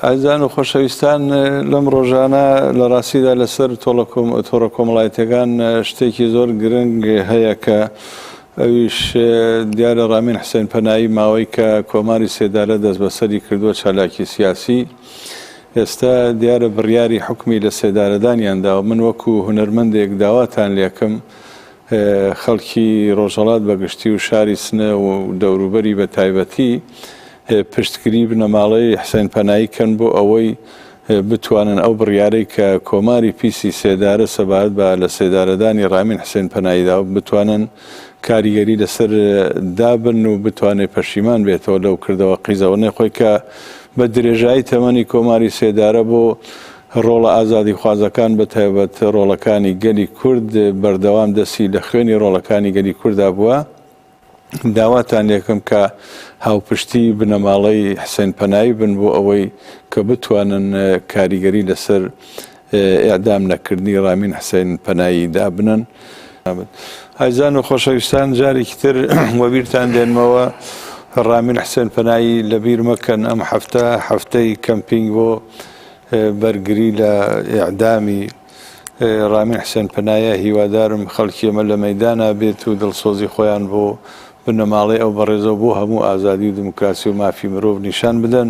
ئازان و خۆشەویستان لەم ڕۆژانە لە ڕاستیدا لەسەر تۆڕە کۆمەڵایەتەکان شتێکی زۆر گرنگ هەیە کە ئەویش دیارە ڕامین حسێن پەنایی ماوەی کە کۆماری سێدارە دەست بەسەری کردووە چالاکی سیاسی ئێستا دیارە بڕیاری حکومی لە سێدارەدانیان داوە من وەکو هونەرمەندێک داواتان لێکم خەڵکی ڕۆژەڵات بەگشتی و شاری سنە و دەوروبەری بە تایبەتی پشتگری بنەماڵەی حسین پەنایی کەن بۆ ئەوەی بتوانن ئەو بڕیارەی کە کۆماری پیسی سێدارە سەبارەت بە لە سێدارەدانی رامین حسین پەنایی دا بتوانن کاریگەری لەسەر دابن و بتوانێت پەشیمان بێتەوە لەو کردەوە قیزەوەنەی خۆی کە بە درێژایی تەمەنی کۆماری سێدارە بۆ ڕۆڵە ئازادی خوازەکان بە تایبەت ڕۆڵەکانی گەلی کورد بەردەوام دەسی لە خوێنی ڕۆڵەکانی گەلی کووردا بووە. داواتان لێکەم کە هاوپشتی بنەماڵەی حسێن پەنایی بن بۆ ئەوەی کە بتوانن کاریگەری لەسەر ئێعدام نەکردنی ڕامین حسێن پەنایی دابنەن. ئازیزان و خۆشەویستان جارێکی تر وەبیرتان دێنمەوە ڕامین حسێن پەنایی لەبیر مەکەن ئەم هەفتە هەفتەی کەمپینگ بۆ بەرگری لە ئێعدامی ڕامین حسێن پەنایە، هیوادارم خەڵکی ئێمە لە مەیدانا بێت و دڵسۆزی خۆیان بۆ بنەماڵەی ئەو بەڕێزە و بۆ هەموو ئازادی و دیموکراسی و مافی مرۆڤ نیشان بدەن.